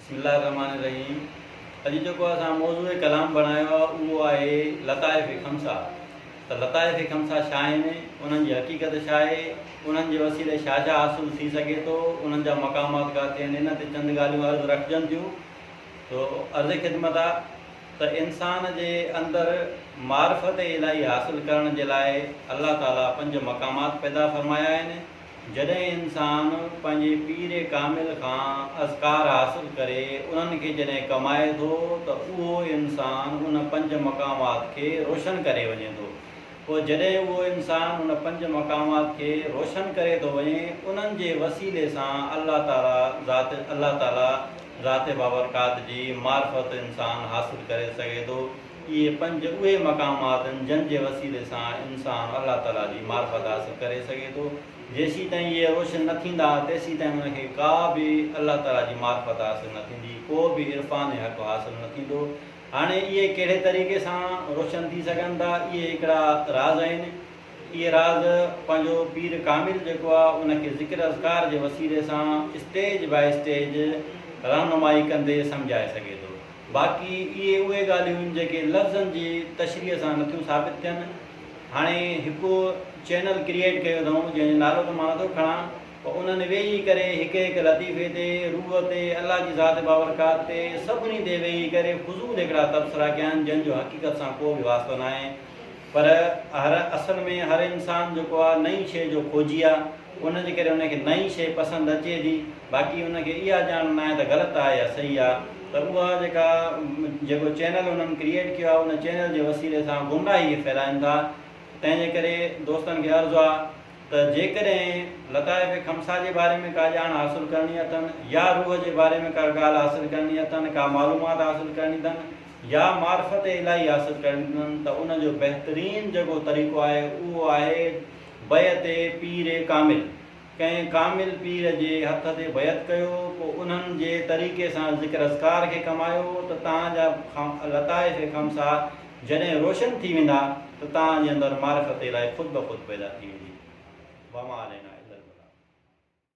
بسم الله الرحمٰن الرحيم اڄ جيڪو اسان موضوع ڪلام بڻايو آهي اهو آهي لطائف خمسه ته لطائف خمسه ڇا آهن انهن جي حقيقت ڇا آهي انهن جي وسيلي ڇا ڇا حاصل ٿي سگهي ٿو انهن جا مقامات ڪاٿي آهن ان تي چند ڳالهيون عرض رکجن ٿيون تو عرض خدمت آ ته انسان جي اندر معرفت الهي حاصل ڪرڻ جي لاء الله تعالي پنج مقامات پيدا فرمايا آهن جڏهن انسان پنهنجي پير ڪامل کان اذڪار حاصل ڪري انهن کي جڏهن ڪمائي ٿو ته اهو انسان ان پنج مقامات کي روشن ڪري وڃي ٿو پوء جڏهن اهو انسان ان پنج مقامات کي روشن ڪري ٿو وڃي انهن جي وسيلي سان الله تعالي ذات الله تعالي ذات بابرڪات جي معرفت انسان حاصل ڪري سگهي ٿو. اهي پنج اهي مقام آتن جن جي وسيلي سان انسان الله تعالي جي معرفت حاصل ڪري سگهي ٿو. جيسيتائين اهي روشن نه ٿيندا تيسيتائين ان کي ڪا به الله تعالي جي معرفت حاصل نه ٿيندي، ڪو به عرفان حق حاصل نه ٿيندو. هاڻي اهي ڪهڙي طريقي سان روشن ٿي سگهن ٿا اهي هڪڙا راز آهن. اهي راز پنهنجو پير ڪامل جيڪو آ ان کي ذڪر اذڪار جي وسيلي سان اسٽيج باء اسٽيج رهنمائي ڪندي سمجهائي سگهي ٿو. باقي اهي اهي ڳالهيون آهن جيڪي لفظن جي تشريح سان نٿيون ثابت ٿين. هاڻي هڪ چينل ڪريئيٽ ڪيو اٿئون جنهن جو نالو ته مان نٿو کڻان پر انهن ويهي ڪري هڪ هڪ لطيفي تي، روح تي، الله جي ذات بابرڪات تي سڀني تي ويهي ڪري فضول هڪڙا تبصرا ڪيا آهن جن جو حقيقت سان ڪو به واسطو ناهي پر اصل ۾ هر انسان جيڪو آهي نئين شيء جو کوجي آهي. ان جي ڪري ان کي نئين شيء پسند اچي ٿي، باقي ان کي اها ڄاڻ ناهي ته غلط آهي يا صحيح آهي ته اها جيڪا جيڪو چينل انهن ڪريئيٽ ڪيو آهي ان چينل جي وسيلي سان گمراهي کي ڦهلائين ٿا تنهن جي ڪري دوستن کي عرض آهي ته جيڪڏهن لطائف خمسه جي باري ۾ ڪا ڄاڻ حاصل ڪرڻي اٿن يا روح جي باري ۾ ڪا ڳالهه حاصل ڪرڻي اٿن ڪا معلومات حاصل ڪرڻي اٿن يا معرفت الاهي حاصل ڪرڻي اٿن ته ان جو بهترين جيڪو طريقو آهي اهو آهي بيعت پير ڪامل، ڪنهن ڪامل پير جي هٿ تي بيعت ڪيو، پوء انهن جي طريقي سان ذڪر اذڪار کي ڪمايو ته توهان جا لطائف خمسه جڏهن روشن ٿي ويندا ته توهان جي اندر معرفت الٰهي خود بخود پيدا ٿي ويندي. وما علينا الا البلاغ.